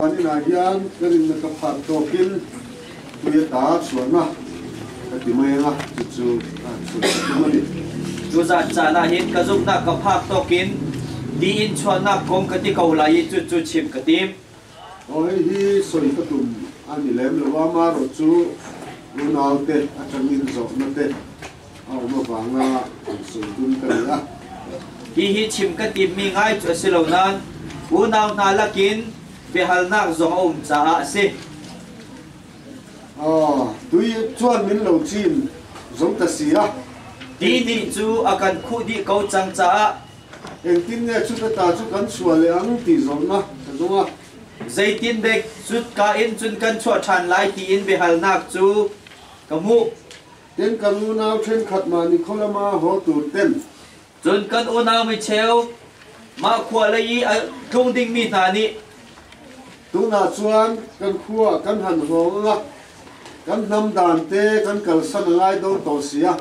Hmanka hian kan in na ka phak tawkin tui a ta chuan a ka ti mai nga chu chu a chul ka mani. Tu zat caan ahhin ka zumhnak ka phak tawkin ti in chuannak kong ka ti ko lai i cu cu chim ka tim. Hoi hi soi ka tum ani lem lo a maro chu unaute atangin zawhna te Hihi chim ka timmi ngai cu a si lo nain unau hna lakin biahalnak zong a um caah a si. Tui cuan min lo cin zong ta si ah. Ti nih cu a kan khuh dih ko cang caah. Engtin nge cu ta cu kan chuah le ang ti zong na ka zong ah. Zeitin dek zut ka in cun kan chuah ṭhan lai tiin biahalnak cu ka hmuh. Tin kan unau ṭhenkhat mah nih khualam ah haw tur ten cun kan unau micheu mah khua lei i a tlung dingmi hna nih tunah cun kan khua kan han hawng anga kan hnam dan te kan kalsan a ngai do to sia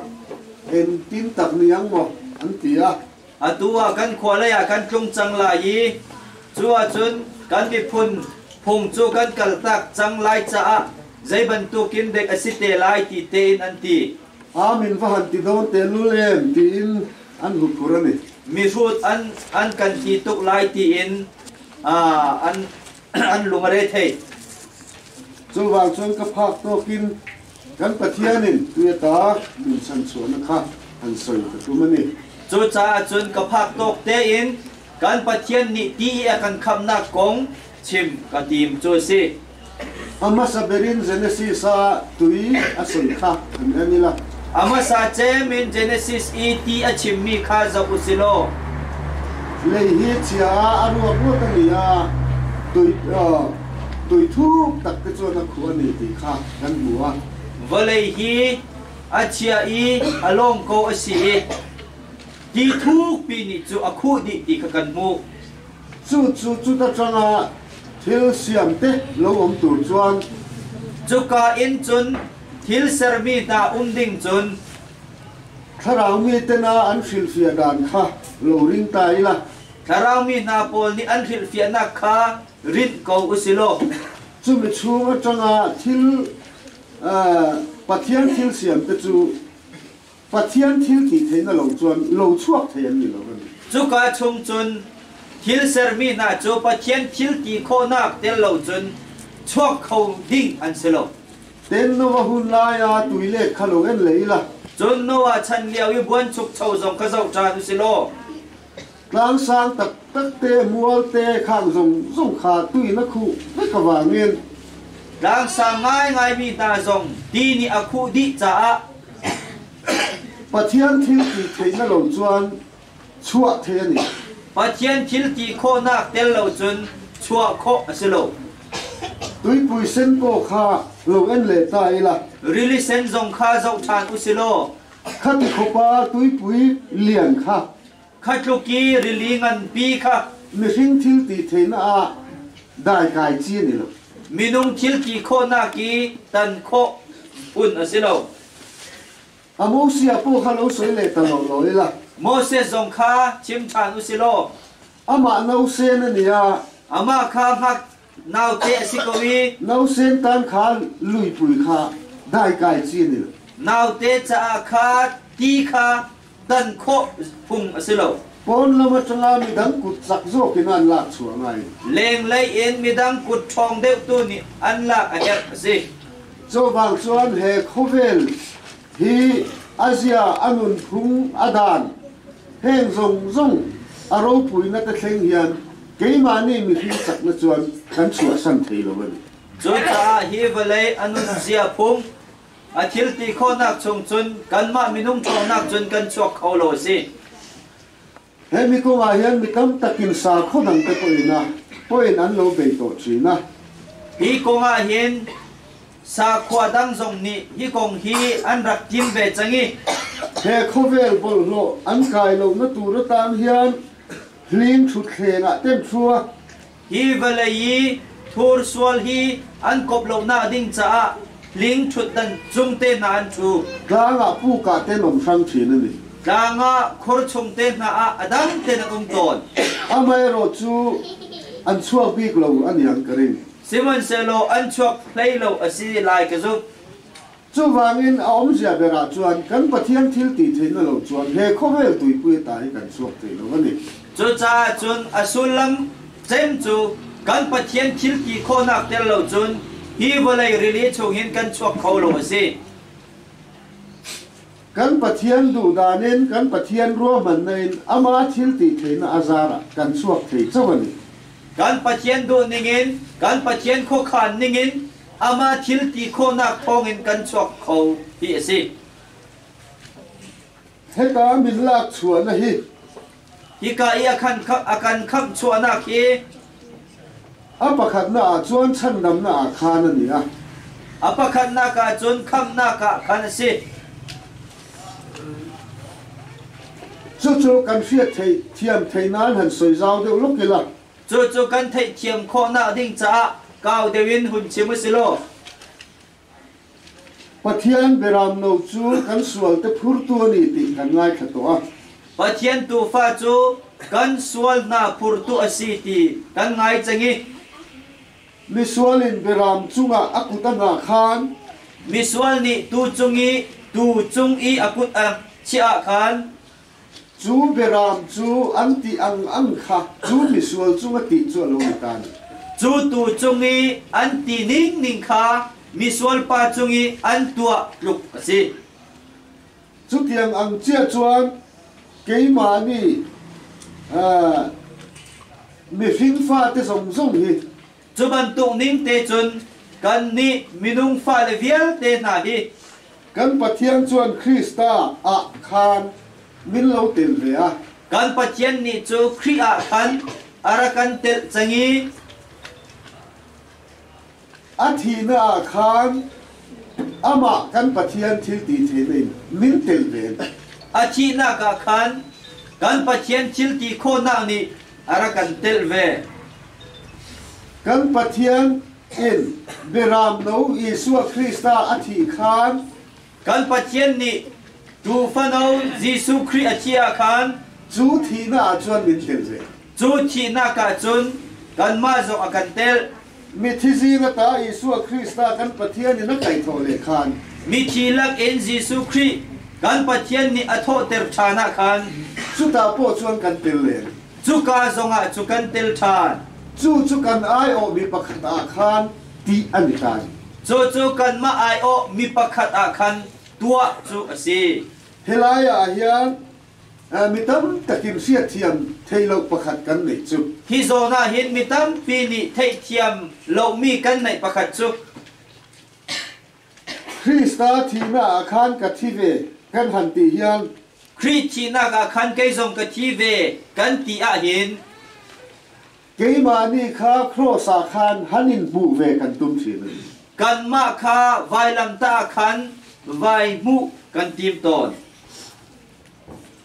en tin tak ni ang maw an ti a Atu ah kan khua lei ah kan tlung cang lai i cu ahcun kan miphun phung cu kan kaltak cang lai caah zei bantukin dek a si te lai ti tein an ti. Amen va han ti dawn tehlul em tiin an hurhur an i. Mihrut an an kan ti tuk lai tiin an an lung a re thei cuvang cun ka phak tawk in kan pathian in tu ta min san chuana kha an soi ka tum ani cucaah cun ka phak tawk te in kan pathian nih ti a kan khamnak kong chim ka tim cu si amasa berin genesis a tui a san kha an anila A hmasa cem in Genesis i ti a chimmi kha zoh u sih law lei hi chia ah a ruakruak tangmi ah tuithuuk takte cun a khu an i ti kha kan hmu. Vawlei hi a chia i a lawm ko a si i ti thukpi nih cu a khuh dih ti kha kan hmuh. Cucu cuta ṭangah thil siamte lo um tur cun cuka in cun Thil sermi hna um ding cun thlarau mi tena an hrilhfiah dan kha lo ring ta ila thlarau mi hna pawl nih an hrilhfiahnak kha rinh ko u si law chumi chung atanga thil uh, Pathian thil siamte cu Pathian thil ti thei na lo cun lo chuak thei an ni lo kan ti. Cuka chung cun thil sermi hna cu Pathian thil ti khawhnak tel lo cun chuak kho ding an si lo. Ten Nov a hun lai ah tui le khalawng in lei la. Cun Noah chan lio i buanchukcho zong kha zoh ṭhan u sih law Tlansang taktakte mualte khang zong zong kha tui na khuh na ka wangin tlansang ngaingaimi hna zong di nih a khuh dih caah Pathian thil ti thei na lo cun chuah the ani Pathian thil ti khawhnak tel lo cun chuah khawh a si lo tuipui sen paw kha lo en le ta ila rili sen zong kha zoh ṭhan u si law khati khopa tuipui lian kha Kha tluk i rili nganpi kha mihring thilti ṭhen ah daikai ci an i lo. Minung thilti khawhnak i tan khawh phun a si lo. Amosiah pawl kha lo soi leh ta lawlaw ila. Moses zong kha chim ṭhan u si law. Amah no sen a nia. Amah kha hmak Naute a si ko i no Satan khan luipui kha daikai ci an il. Naute caah khan ti kha dan khawh phung a si lo. Pawn lam aṭanga midang kut zakzawk in an lak chuah ngai. Lenglei in midang kut ṭhawng deuhtu nih an lak a herh a si. Cuvang cun he khawvel hi a zia, a nunphung, a dan, heng zong zong a ropuinak a thleng hian Keimah nih mihring tak na cuan kan suasam thei lo in. Cucaah hi vawlei a nunzia phung, a thil ti khawhnak chung cun kanmah minung ṭawhnak cun kan chuak kho lo a si. He mi kong ah hin mi tam tak in sakhaw dang te pawh in a poin an lo bei taw chin a. Hi kong ah hin Sakhua dang zong nih hi kong hi an rak kim ve cang i he khawvel bawlhhlawh an kai lonak tur atan hian hling thuthleng ah temchua hi vawlei i thur sual hi an kop lonak ding caah hling thutdan cung te hna an thu tlangah puka te nom hram thin ani tlangah khur chung te hna ah adang ten an um tawn amaherawh cu an chuak bik lo aniang ka ring Sihmanhsehlaw an chuak hlei lo a si lai ka zumh. Cubangin a awmzia ber ah cun kan Pathian thiltithei na lo chuan he khuavel tuipui ta hi kan suak thei lo a ni. Cucaah cun a sullam cem cu kan Pathian thil ti khawhnak tel lo cun hi vawlei rili chungin kan chuak kho lo a si. Kan Pathian duhdan in kan Pathian ruahmannak in amah thilti theihnak a zar ah kan chuak thei co ani. Kan Pathian duh ningin kan Pathian khuakhan ningin amah thilti khawhnak thawngin kan chuak kho ti a si. Heka min lak chuahnak hi Hika i a kan khamh chuahnak hi a pakhatnak ah cun chhandamnak ah khan an i al, a pakhatnak ah cun khamhnak ah khan a si. Cucu kan hriatthiam theihnak in han soi zau deuh lawk ila. Cucu kan theihthiam khawhnak ding caah kau deuh in hun chim u si law. Pathian biaram no cu kan sual te phurtu a ni ti kan ngaithla tuah. Pathian tufa cu kan sual hna phurtu a si ti kan ngai cang i misual in biaram cungah a kut a hna khan misual nih tu cung i tuu cung i a kut a chiah ah khan Cu biaram cu an tih ang-ang kha cu misual cung a tih cu a lung a tan. Cu tu cung i an ti ningning kha misual pa cung i an tuah tluk a si. Cutiang ang chiah cun keimah nih mifing fate zong zong hi Cu bantuk ning te cun kannih minung fale vialte hna hi kan Pathian cun Khrih ta ah khan min lo tel ve a kan Pathian nih cu Khrih ah khan a rak kan telh cang i a thihnak ah khan amah kan Pathian thilti thein min tel ve a thihnak ah khan kan Pathian thilti khawhnak nih Kan Pathian in biaram no Jesuh Khrist ah a thi khan kan Pathian nih Tuufa no Jesuh Khrih a thih ah khan cu thihnak ah cun min tel ve. Cu thihnak ah cun kanmah zong a kan telh. Mithizi va ta Jesuh Khrih sta kan Pathian in a kai thaw le khan Mithi lakin Jesuh Khrih kan Pathian nih a thawhter ṭhan ah khan cuta paw cun kan tel len. Cuka zongah cu kan tel ṭhan. Cu cu kan aiawhmi pakhat ah khan ṭih an i taan. Cucu kanmah aiawhmi pakhat ah khan tuah cu a si. Hi lai ah hin Mi tamtakin hriatthiam theih lo pakhat kan nei cu. Hi zawn ah hin mi tampi nih theihthiam lomi kan neih pakhat cu Krista thihnak ah khan ka thi ve kan han ti hial. Khrih thihnak ah khan kei zong ka thi ve kan ti ahhin Keimah nih kha khrosa khan han in hmuh ve kan tum hrim. Kanmah kha vailamtah khan vai hmuh kan tim tawn.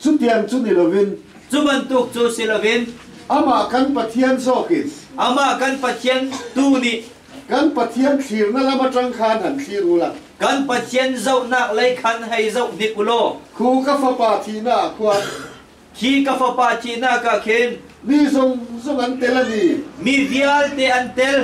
Cu tiang cu ni loin cu bantuk cu si loin amah kan Pathian zawkin amah kan Pathian tu nih kan Pathian thlirnak lam aṭang khan han thlir u lang. Kan Pathian zohnak lei khan hei zoh hnik u law, Khu ka Fapa thihnak ah khuan Hi ka fapa thihnak ah khin mi zungzung an tel an i mi vialte an tel.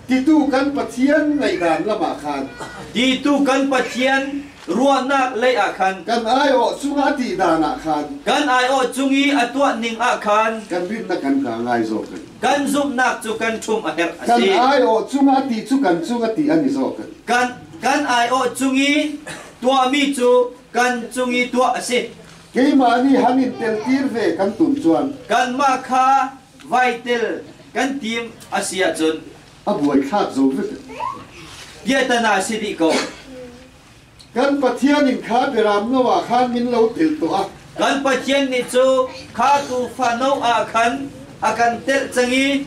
Titu kan Pathian ngaihdan lam ah khan. Titu kan Pathian ruahnak lei ah khan. Kan aiawh cung a tih dan ah khan. Kan aiawh cung i a tuah ning ah khan. Kan rinnak kan kaa ngai zawk in. Kan zumhnak cu kan ṭhum a herh a si. Kan aiawh cung a ti cu kan cung a ti an i zawk in. Kan kan aiawh cung i tuahmi cu kan cung i tuah a si. Keimah nih han in teltir ve kan tum cuan. Kanmah kha vai tel kan tim a si ahcun. A buaithlak zo vut. Piatana si dih ko. Kan Pathian in kha biaram no ah khan min lo tel tuah. Kan Pathian nih cu kha tuufa no ah khan a kan telh cang i.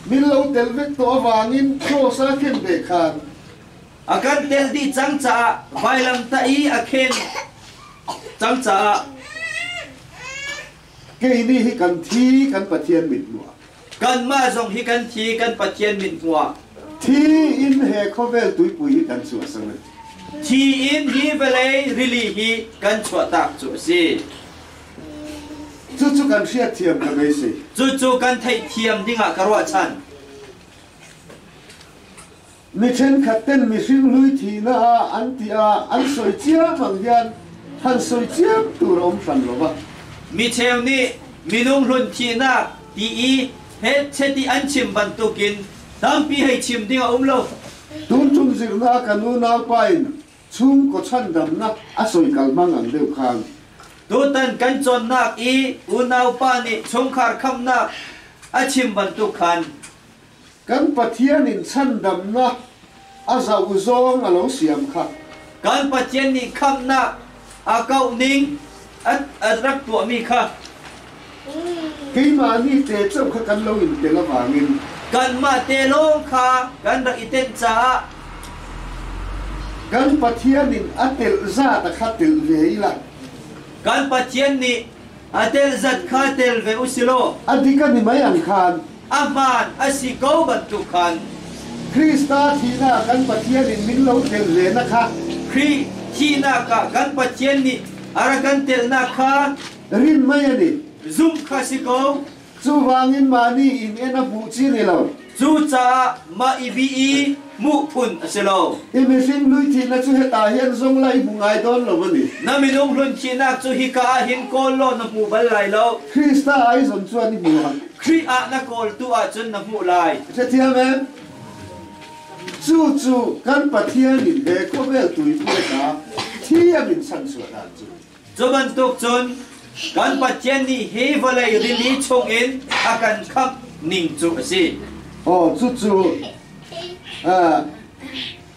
Min lo tel vek tuah vangin thawsa khin ve khan. A kan tel dih cang caah vailamtah i a khen. Cucaah kei nih hi kan thi kan Pathian mit hmuah. Kanmah zong hi kan thi kan Pathian mit hmuah. Thi in he khawvel tuipui hi kan chuah sang in. Thi in hi vawlei rili hi kan chuah tak cu a si. Cucu kan hriat thiam ka mei si. Cucu kan theih thiam dingah ka ruah chan. Mi thenkhat ten mihring luithihna ah an tih ah an soi ciammang hian han soi ciam tur a um hran lo va. Micheu nih minung hlun thihnak ti i hetcheti an chim bantukin tampi hei chim ding a um lo. Tun tum zirnak kan unaupa in chungkaw chhandamnak a soi kalhmang ang deuh khan. Tutan kan cawnnak i unaupa nih chungkhar khamnak a chim bantuk khan Kan Pathian in chhandamnak a zoh zong a lo siam khah. Kan Pathian nih khamhnak a kauh ning a, a rak tuahmi kha keimah nih te ceu kha kan lo in tel avangin kanmah te lawng kha kan rak i tenh caah kan Pathian in a telh za ta kha telh ve ila kan Pathian nih A tel zat kha tel ve u silaw a dik an i mei ang khan a hmaan a si ko bantuk khan Krista thihnak kan Pathian in min lo tel ve na kha Khrih thihnak ah kan Pathian nih a rak kan telnak kha rin mei an i zumh kha si ko. Cubangin mah nih inn a hmuh chin i lo. Cucaah mah i bih i hmuh phun a si lo. Hi mihring luithihnak cu hita hin zung lai hmu ngai dawn lo a ni. Na minung hluancinak cu hika ah hin kawl law na hmu bal lai lo. Krista ai zon cuan i hmu hlah. Khrih ah na kawltu ahcun na hmuh lai. Ṭhathiam em? Cucu kan Pathian in he khawveltu i hmuhnak thiam in chanchuahnak cu a si. Cu bantuk cun kan Pathian nih hi vawlei rili chungin a kan khamh ning cu a si. Aw, cucu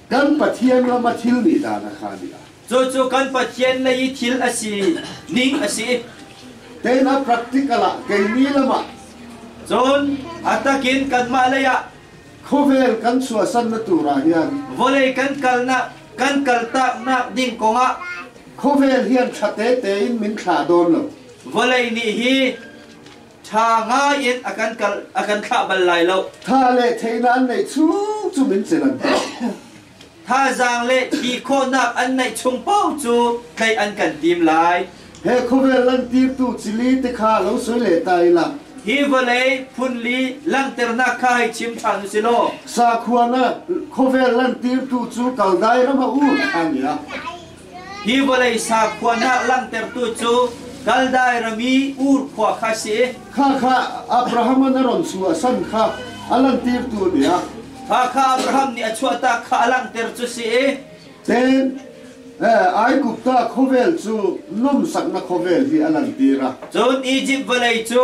kan Pathian ram a thilmi dana kha a ni lai. Cucu kan Pathian lei i thil a si ning a si. Tein a practical ah kei ni lam ah cun a takin kanmah lei ah khawvel kan suasannak tu rah hian vawlei kan kalnak kan kaltak nak ding kongah Khawvel hi an ṭha tete in min thla dawn lo. Vawlei nih hi ṭha ngai in a kan kal a kan thlah bal lai lo. Tha le theinak neih chung in cun an hman. Thazaang le thi khawhnak an neih chung pawng cu tlaih an kan tim lai. He khawvel an tirtu cili te kha lo soi le ta i lang. Hi vawlei phunli langhternak kha hei chim ṭhan u si law. Sakhuana khawvel an tirtu cu kaldai ram ah u an ya. Hi vawlei sakhuanak langhtertu cu Kaldai rami Ur khua kha a si. Khakha Abraham an a ron su a san kha a langhtertu a biak. Khakha Abraham nih a chuahtak kha a langhter cu si i Ten Aigupta khawvel cu lumsaknak khawvel hi a langhter a. Cun Izipt vawlei cu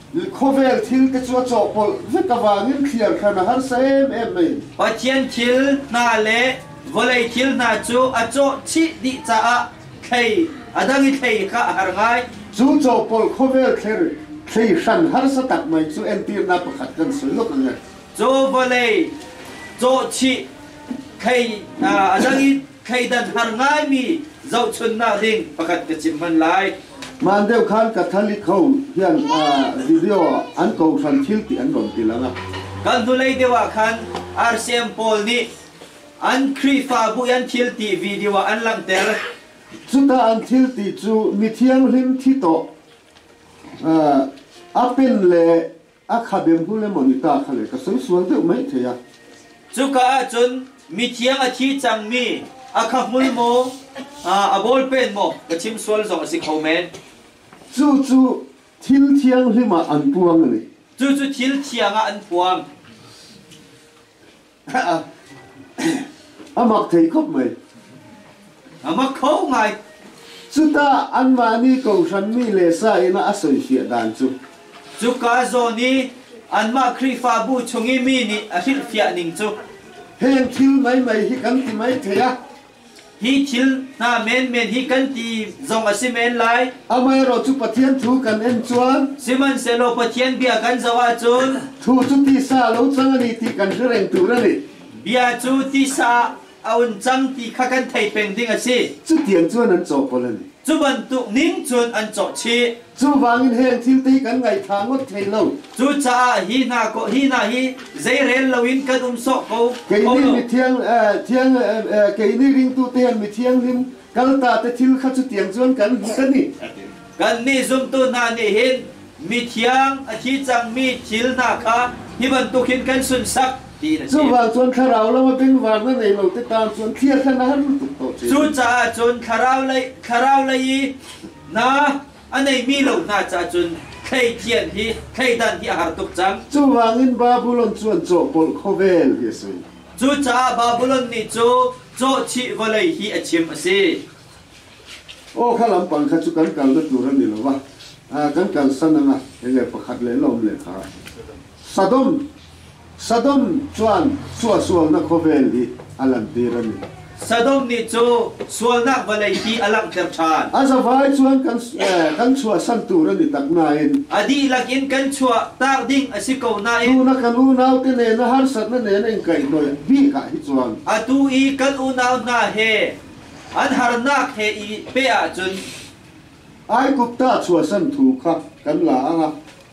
Khawvel thil ka cuah cawk pol zet avangin thliar khan a har sem em mai. Pathian thil hna le vawlei thil hna cu a cawh chih dih caah thlei a dang i thlei kha a har ngai. Cu caw pol khawvel thler thlei hran harsa tak mai cu entirnak pakhat kan suluk nge. Caw vawlei cawh chih thlei a dang i thleidan har ngaimi zohchunhnak ring pakhat ka chim hman lai. Man deuh khan Catholic ho hian uh, video ah an kohhran thil ti an ron tilang a. Kan hnulei deuh ah khan RCM pawl nih an Khrihfabu i an thil ti video ah an langhter. Cuta an thil ti cu mi thianghlim thi to uh, apen le a kha dem hnu le moni ta kha le ka sung sual deuh mai thei a cuka ah cun mithiang a thi cangmi a kha hmul maw a bol pen maw ka chim sual zong a si kho men cu cu thil thianghlim ah an puang ani cu cu thil thiang ah an puang Amak thei khop mei. Amak kho ngai. Cutah anmah nih kohhranmi le sa in a soihliah dan cu. Cuka zawn i anmah Khrihfabu chung i mi nih a hrilhfiah ning cu. Heng thil mai mai hi kan ti mai thei a. Hi thil hna menmen hi kan ti zong a si men lai. Amaherawh cu Pathian thu kan en cun, sihmanhsehlaw Pathian bia kan zoh ahcun, thu cu tisa a lo cang a ni ti kan hri reng tur a ni. Bia cu tisa a un cang ti kha kan thei peng ding a si. Cutiang cun an cawh kawl a ni. Cu bantuk ning cun an cawh chih. Cubangin heng thil te kan ngei thla ngawt thai lo. Cucaah hi hna ko hi hna hi zeirel loin kan um sawk ko. Kei nih mi thiang thiang kei nih ringtu tean mi thianghlim kalta te thil kha cu tiang chuan kan hmu kan ni. Kan nih zumtu hna nih hin mi thiang a thi cangmi thil hna kha hi bantukin kan sunsak ti na si. Cubang chuan thlarau lo a benvar na nei lo te tan chuan thliar kha na har tuk ko chi. Cucaah cun thlarau lei thlarau lei i na a neimi lo hna caah cun thleithian hi thleidan hi a har tuk cang. Cuvangin Babylon cu an cawhbolh khawvel ti a si. Cucaah Babylon nih cu cawhchih vawlei hi a chim a si. Aw kha lampang kha cu kan kal na tur an ni lo va, kan kalsan ang a, enge pakhat le la um le kha. Sodom, Sodom cun suahsualnak khawvel nih a lantiran. Sodom nih cu sualnak vawlei ti a langhter ṭhan. A zavai cun kan chuahsan tur an i tak nain. A dihlak in kan chuahtak ding a si ko nain. Tuna kan unaute nen a harsatnak nen an kai nolh bik ah hi cun. Atu i kan unau hna he an harnak he i peh ahcun. Aiguph tah chuahsan thu kha kan laang a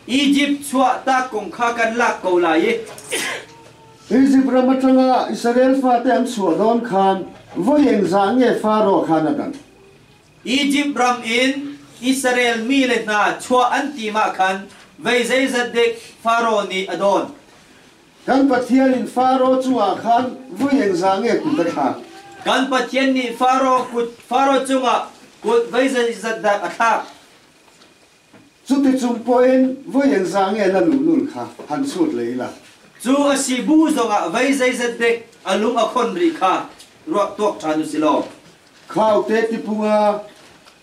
Izipt chuahtak kong kha kan lak ko lai i Izipt ram aṭangah Israel fate an chuah dawn khan voi engzah nge Faro khan a dang? Izipt ram in Israel mi le hna chuah an timah khan voi zeizat dek Faro nih a dawn? Kan Pathian in Faro cungah khan vui eng za nge kut a thlak. Kan Pathian nih Faro kut Faro cungah kut veizat zat dak a thlak. Cuticung poin vui eng za nge na nunul kha han sut le la. Cu a si bu zongah vei zeizat dek a lung a khon rih kha ruah tuak ṭhan u si law. Khaute tipung ah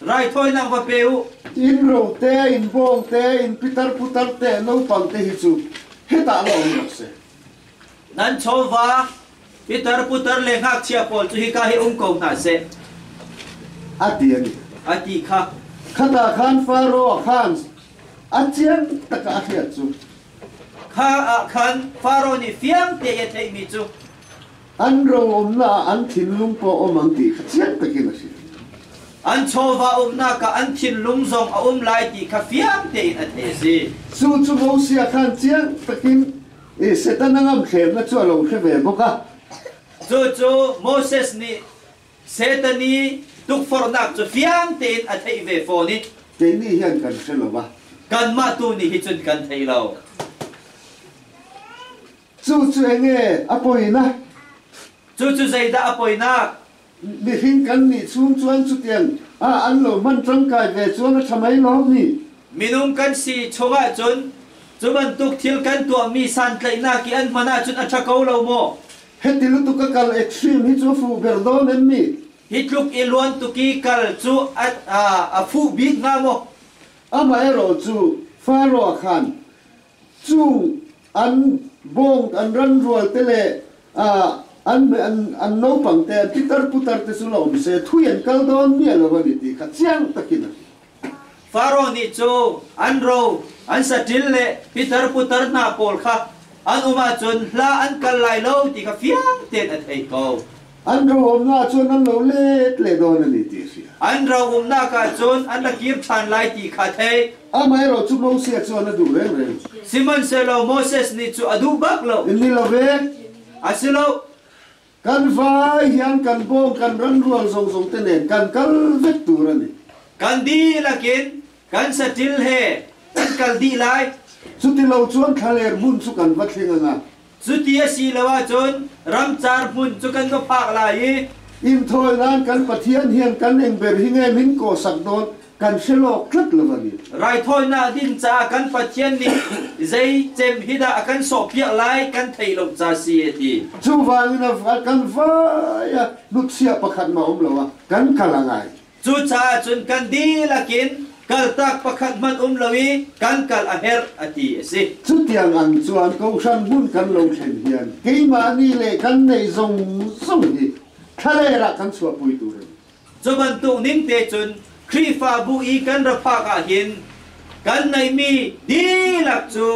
Raithawinak va pe u. Innro tein, bawng tein, pitar putar te, naupang te hi cu hetah lomi a si. Nan chawva, pitar putar le ngakchia pawl cu hika hi um ko hna seh, a ti a ni. a ti kha. Khata khan Faro khan a ciang taka a hriat cu, Kha ah khan Faro nih fiang tein a theihmi cu, An ram umnak ah an thinlung pawh a um ang ti kha chiat takin a si. An chawva uknak ah an thinlung zong a um lai ti kha fiang tein a theih a si. Cu cu Mosiah khan chiang takin Satan a ngamhhlemnak cu a lo hre ve bawk a. Cucu Moses nih Satan i tukforhnak cu fiang tein a theih ve fawn i. Kei nih hin kan hre lo a. Kanmah tu nih hi cun kan thei lo. Cucu eng ee a poinak? Cucu zeidah a poinak? Mifing kan nih chung cun cutiang ah an lo man ṭangkai ve cun a ṭha mei lawm ni. Minung kan si chungah cun cu bantuk thil kan tuahmi santlaihnak i an hman ahcun a ṭha ko lo maw? Hiti lutuk a kal extreme hi cu fuh ber dawn em ni? Hi tluk i luan tuk i kal cu a fuh bik hnga maw? Amaherawhcu, Faro khan cu an bawng an ran rual te le an an naupang te an pitar putar te cu lo awm se thui an kal dawn miah lo ani ti kha chiang takin a ti Pharaoh nih cu an ro an saṭil le pitar putar hna pawl kha an um ahcun hla an kal lai lo ti kha fiang tein a thei ko An ro umnak cun an lo let le dawn an i ti a si. An ro umnak ah cun an ra kir ṭhan lai ti kha thei. Amaherawhcu Moses chuan a duh rengreng. Sihmanhsehlaw Moses nih cu a duh bak lo. In ni lo ve. A si lo. Kan vai hian kan bawng kan ran ruang zongzong te nen kan kal vek tur ani. Kan dihlak in kan saṭil he kan kal dih lai. Cuti lo cun thlaler hmun cu kan va thling anga Cuti a si lo ahcun ramcar hmun cu kan va phak lai i Inthawi nan kan Pathian hian kan engber hi nge min ko sak dawn kan hre lawk tlat lo va ni. raithawinak ding caah kan Pathian nih zei cem hi dah a kan sawhpiah lai kan theih lo ca si a ti. Cu vangin a kan vai a hnutchia pakhat mah a um lo a kan kal a ngai. Cucaah cun kan dihlak in kaltak pakhat hmanh um lo i kan kal a herh a ti a si. Cutiang an cuan ko hranhmun kan lo thlen hian keimahni le kan neih zong zong hi thlaleng ah kan chuahpui tur a ni. Cu bantuk ning te cun Khrihfabu i kan ra phak ah hin kan neihmi dihlak cu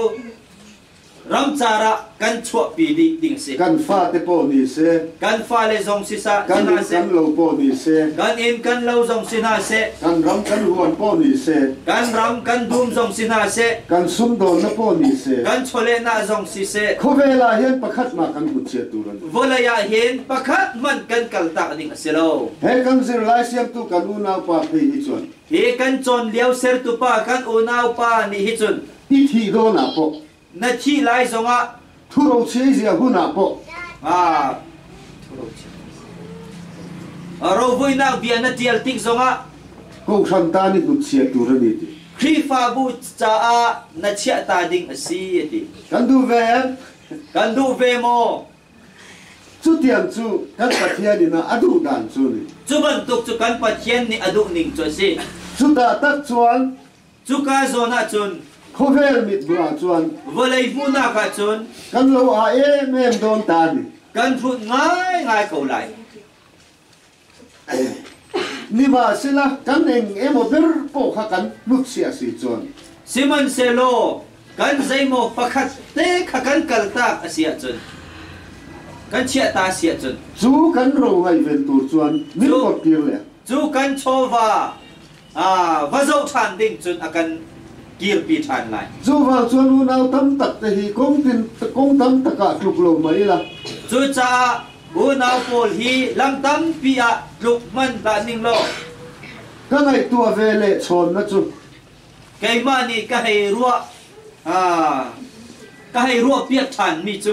Ramcar ah kan chuahpi dih ding si. Kan fate pawh ni si. Kan fale zong si sa kan hna kan lo pawh ni si. Kan inn kan lo zong si hna se. Kan ram kan huan pawh ni si. Kan ram kan dum zong si hna se. Kan sumdawnna pawh ni si. Kan chawlehnak zong si se. Khawvel ah hin pakhat mah kan mutchiatu kan si. Vawlei ah hin pakhat hmanh kan kaltak ding a si lo. He kan zirlai siamtu kan unaupa phei hi cun. Hi kan cawn lio sertupa kan unaupa nih hi cun i thih dawhnak pawh. Na thih lai zongah. Thuro chia hunak pawh. Ah, thuro chia. Rovoinak bia na tial tik zongah. Kohhran ta nih hnutchia tur an iti. Khrihfabu caah na chiah ta ding a si a ti. Kan duh ve em? Kan duh ve maw? Cutiang cu kan Pathian in a duh dan cu ni. Cu bantuk cu kan Pathian nih a duh ning cu a si. Cu ta tak cun Cuka zawn ah cun khawvel mitbu ah cun vawlei hmuhnak ah cun kan lo aa emem dawn tan. Kan hrut ngaingai ko lai. Niva sila kan eng emaw ber ko kha kan hlut si a si cun. Sihmanhsehlaw kan zeimaw pakhat te kha kan kaltak a si ahcun kan chiah ta si ahcun cu kan ro ngaihven tur chuan min kor kir le cu kan chawva va zoh ṭhan ding cun a kan kirpi ṭhan lai. Cuvang cun unau tam tak te hi kong tin kong tam tak ah tluk lo mai ila. Cucaah unau pawl hi lam tampi ah tluk hman hlah ning law ka ngaihtuah ve le chawnna cu keimah nih ka hei ruah ka hei ruah piak ṭhan mi cu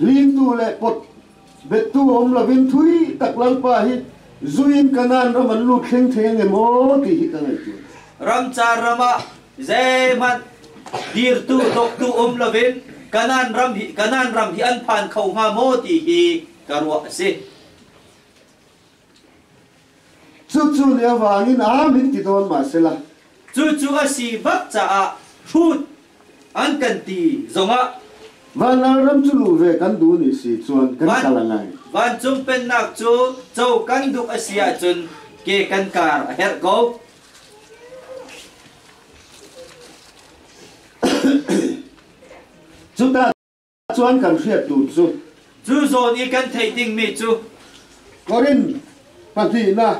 Limnu le kut bettu um loin thui tak lalpa hi zui in Kanan ram an lut thling theng e maw ti hi ka ngaihtuah. Ramcar ram ah zeihmanh dirtu doktu um loin Kanan ram hi Kanan ram hi an phan kho hnga maw ti hi ka ruah a si. Cucu lioang in amin ti tawn ma sila. Cucu a si bak caah hrut an kan ti zongah Vanlalram cu lu ve kan du ni si chuan kan kal ngai. Vancung pennak cu co kan duk a si ahcun ke kan kar a herh ko. Cuta Cun kan hrialtu cu cu zawn i kan theih dingmi cu Korin pahnih la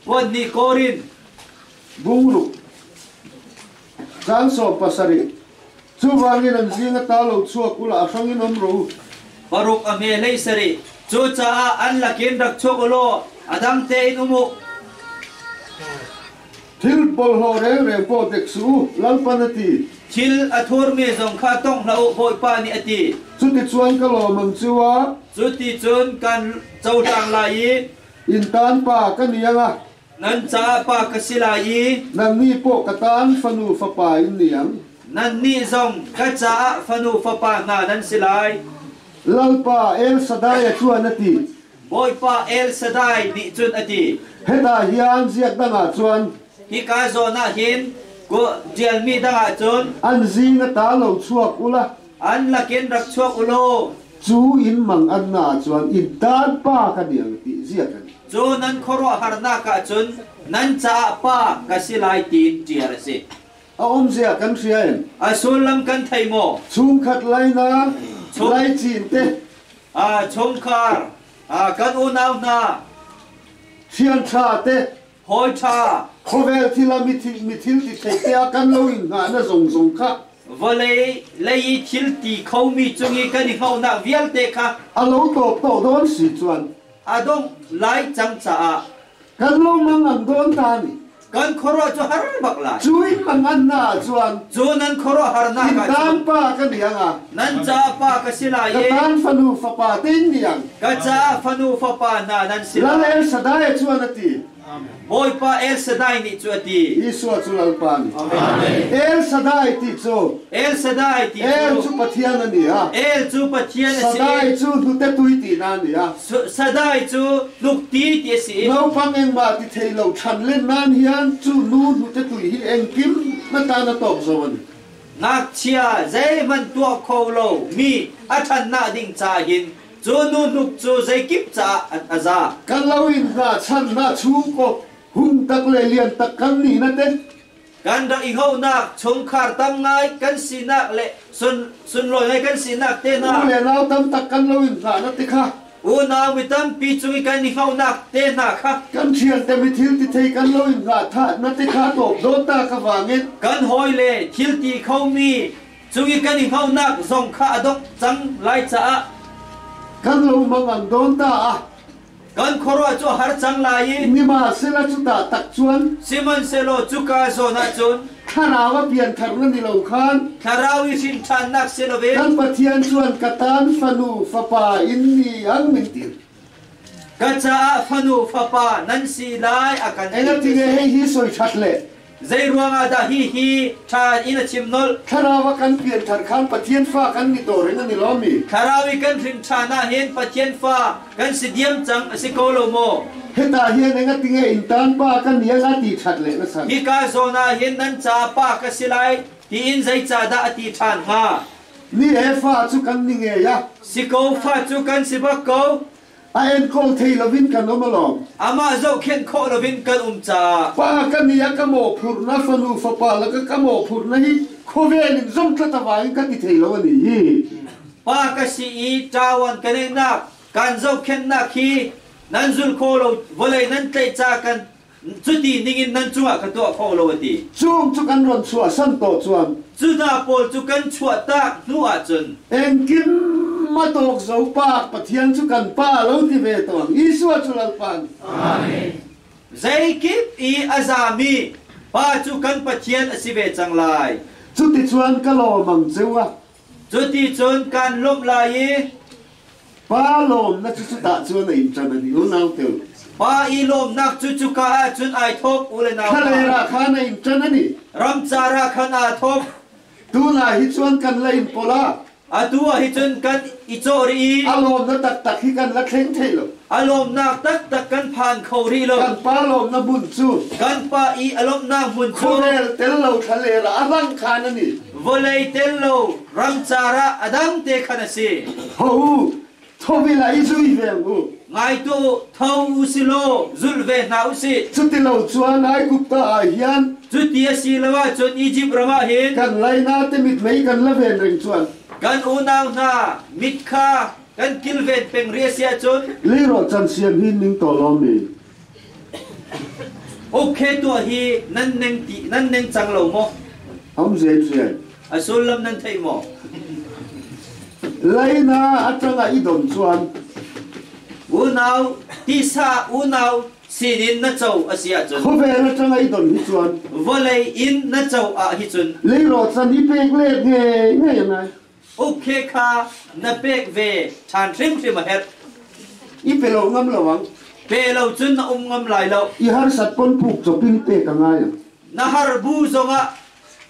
puanhnih Korin bung ruh caan sawm pasarih Chuvangin an zing a ta lo chuah kul ah a hrang in um ru. Paruk a hme hlei sarih. Cucaah an lakin rak chuak u law a dang tein um u. Thil porhlaw rengreng paw pek su u, Lalpan a ti. Thil a thurmi zong kha tong hlah u, Bawipa nih a ti. Cuticun ka lawmam cu a. Cuticun kan cohlang lai i. Inntan pa ka niang a. Nan caah pa ka si lai i. Nannih pawh ka tan fanu fapa in niang. Nannih zong ka caah fanu fapa hna nan si lai. Lalpa, El Shaddai a ṭuan, a ti. Bawipa Elshadai nih cun a ti, Hetah hian ziak dang ah cun hika zawn ah hin kuh ṭialmi dang ah cun an zing a ta lo chuak ula, an lakin rak chuak u law cu inn mang annaah cun in taan pa ka niang ti ziak an si. cu nan khuaruahharnak ah cun nan caah pa ka si lai tiin ṭial a si. A awmzia kan hria em? A sullam kan thei maw? Chungkhat lainak, laicin te chungkhar kan unau hna ṭhianṭha te hawi ṭha khawvel thil ah mithil mithil ti thei te ah kan lo in hna na zong zong kha vawlei lei i thil ti kho mi cung i kan i hlohnak vialte kha a lo tawp to dawn si chuan a dongh lai cang caah kan lungmang an dawn tan kan khoro cu har bak lai cu in mang an na chuan cu nan khoro har na in tan pa ka niang a nan ca pa ka si lai ka tan fanu fapa te niang ka ca fanu fapa na nan si lai lal el sadai chuan ati Bawipa El Shaddai nih cu a ti. Isua cu lalpa nih. Amen. El Shaddai ti cu. El Shaddai ti cu. El cu Pathian a ni ha. El cu Pathian a si. Shaddai cu hnutetui ti na ni ha. Shaddai cu tlukti ti a si naupang engmah ti thei lo than len nan hian cu nu hnute tui hi engkim na ta na tawk zawn ngakchia zeihmanh tuah kho lo mi a thannak ding ca hin cu nu hnuk cu zeikip caah a za kan lo in hna channa chu ko hun tak le lian tak kan ni na te Kan rak i honak, chungkhar tam ngai kan sinak le sunlawi ngai kan sinak te hna u le nau tam tak kan lo in hlah na ti kha unau mi tampi cung i kan i honak te hna kha kan ṭhial te mi thil ti thei kan lo in hlah tha na ti kha tawp dawt ta ka wangin kan hawi le thil ti khomi cung i kan i honak zong kha a dok cang lai caah kan lo mang an dawn ta a Kan khuaruah cu a har cang lai i nimahsela cutah tak cun sihmanhsehlaw cuka zawn ah cun thlarau a pianthar nan i lo khan thlarau i hrinthannak si lo in kan Pathian cuan ka tan fanu fapa in ni an min tir ka caah fanu fapa nan si lai a kan ti. Engati ne hei hi soi that le Zeiruangah dah hihi ṭha in a chim nolh? Thlarau a kan pianṭhan khan Pathian Fa kan ni dawr in an i lawm i thlarau i kan hrin ṭhan ahhin Pathian Fa kan si diam cang a si ko lo maw? Hitah hian enga tinge intan pa kan ni anga ti ṭhat le na san? Hika zawn ahhin nan ca pa ka si lai tiin zeicahdah a ti ṭhan hnga? Ni he fa cu kan ni ngei a si ko, fa cu kan si bak ko. A enkawl thei loin kan um alawm. Amah zohkhenh khawh loin kan um caah Pa ka nih a ka mawhphurh na fanu fapa laka ka mawhphurh na hi khuavel in zomthlatava in kan i thei lo a ni. Pa ka si i ṭawan ka neihnak kan zohkhenhnak hi nan zulh khawh lo vawlei nan tlaih ca kan Cuti ningin nan cungah ka tuah kho lo, a ti. Cung cu kan ron chuah santaw cun. Judah pawl cu kan chuahtak hnu ah cun. Engkim matawk zopa Pathian cu kan Pa a lo ti ve tawn. Isua cu Lalpa an. Amen. Zeikip i a zami Pa cu kan Pathian a si ve cang lai. Cuticun ka lawm ang che u, a Cuticun kan lawmh lai i Pa lawmnak cu cutah cun a in ṭan an i unaute. Pa i lawmnak cu cuka ah cun ai thawk u le nau khalei ra khan a in ṭan an i ramcar ah khan aa thawk. Tunah hi cun kan la in pawla atu ah hin cun kan i cawh rih i a lawm na taktak hi kan la thleng thei lo. A lawmnak taktak kan phan kho rih lo. Kan pa lawmnak bunh cu kan pa i a lawmhnak hmun cu khurel tel lo thlalera a rang khan ani. Vawlei tel lo rangcar ah a dang te khan a si. Ho u, thovil ah i zui ve u. Ngai tuah u, tho u si law zulh ve hna u sih. Cuti lo cun Aigupta ah hin cuti a si lo ahcun Izipt ram ah hin kan laina te mit mei kan la ven ring cuan. Kan unau hna mit kha Kan kilvet peng ri si ahcun leiraw can sian hi ning to lawmi okay tuah hi nan neng ti nan neng cang lo maw am zen zen a sullam nan thei maw laina atanga i don chuan unau tisa unau sinin na cho asia cun khovel atanga i don hi chuan vawlei in na cho a hi cun leiro chan hi pek le nge nge ngai Ukhe kha na pek ve ṭhan hrimhrim a herh. I pe lo ngam lo ang. Pe lo cun na um ngam lai lo. I harsat kon phuk cawp in pek a ngai ang. Na har bu zongah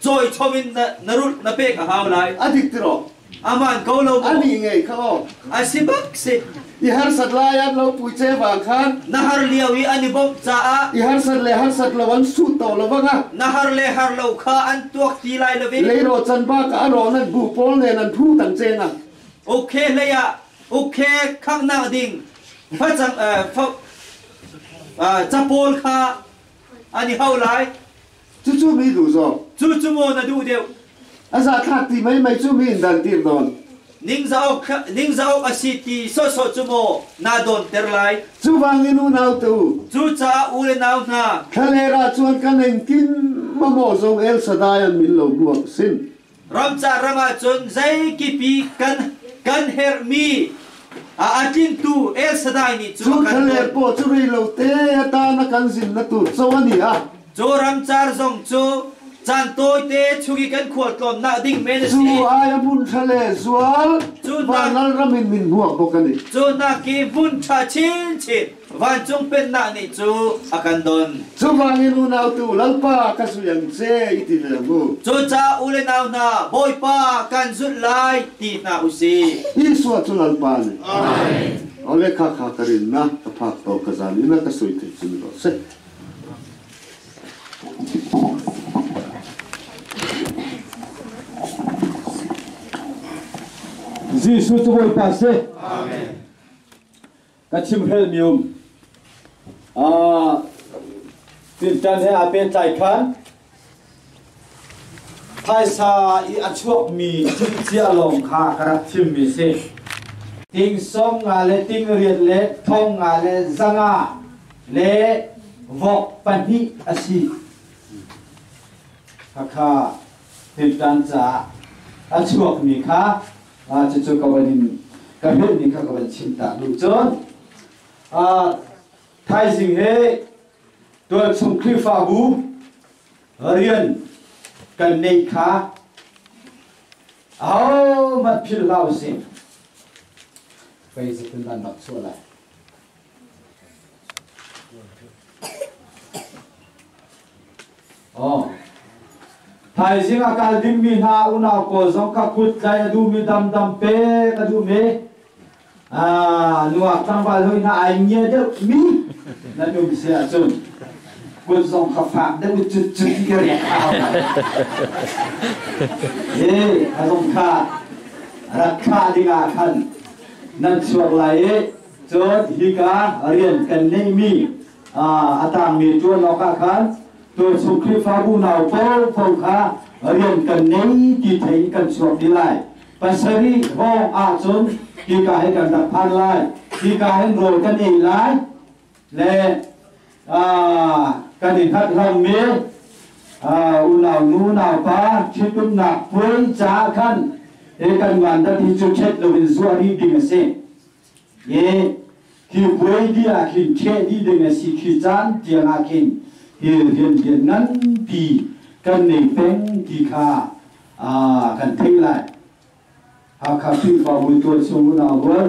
cawi chom in na, na rulh na pek a hau lai. A dik tiraw? A man ko lo maw? Ani ngei kha aw. A si bak si. I harsat lai an lo puice vang khan na har lio i an i bawmh caah i harsat le harsat lo an sut to lo banga na har le har lo kha an tuak ti lai lo leiro chan ba ka aron an bu pol nen an phu tang chena okay leya okay khak nak ding facang uh, capol kha An i hau lai. Cucu mi duh zawk. Cucu maw na duh deuh? A zathlak ti mai mai cu mi in dan tir don. Ningza awk ningza awk a si ti sawhsawh cu maw naa dawnter lai? Cubangin unaute u. Cucaah u le nau hna. Thlaler ah cun kan eng kim mamawh zong El Shaddai an min lo hmuh awk a si. Ramcar ram ahcun zeikipi kan kan herhmi a a tlingtu Elsadai nih cu kan Chungkhar le tuah. paw cu rei lo te atan a kan zin na tur cho ani a. Cu ramcar zong cu caan tawite chung i kan khualtlawnnak ding men a Zu si. ai a mun thale zual Cu hna- vanal ram in min hmuak bok ani. Cu hnak hi hmun ṭha chinchin Vancung pennak nih cu a kan don. Cuvang in unautu Lalpa ka zulh an che i ti leng u. Cucaah u le nau hna Bawipa kan zulh lai ti hna u sih. Isua cu Lalpa nih Amen. Ole kha kha ka rin na ka phak to ka zan i na ka sui thil cim ko seh. Jesuh cu Bawipa si. Amen. ka chimhrel mi um tinṭan he aa pehtlai khan phaisa i a chuakmi thilcia lawng kha ka rak thimmi si tingsawm nga le tingriat le thong nga le zanga le vok pahnih a si khakha tinṭan caah a chuakmi kha Ah, cucu ka van in ka helmi kha ka van chim ta duh cun ah thaizing he tualchung Khrihfabu rian kan neih kha ahohmanh philhhlah usih. Pei zetin nan rak chuah lai. Thaizing a kal dingmi hna unau pawl zong ka kut tlaih a duhmi damdam pek a duhmi nuak tlangval hoi na ai ngia deuhmi na num si ahcun kut zong ka fak deuh cu cu ti riak hau e a zong kha rak thlah dingah khan nan chuak lai i Cun hika rian kan ngeihmi a tangmi ṭuan awkah khan tualchung Khrihfabu nau paohpaoh kha rian kan ngei ti thei in kan chuak dih lai. Pasarih hrawng ahcun hika hi kan rak phan lai, hika hin rawl kan ei lai le kan i hngathlangmi unaunu naupa ṭhitumnak puai caah khan hi kan vandat hi cu ṭhet loin zuah rih ding a si. Hi thil puai dih ah khin ṭheh dih ding a si khi caan tiang ah khin thil rianrian nganpi kan nei peng ti kha kan theih lai. Hakha Khrihfabu tuah chung unau rual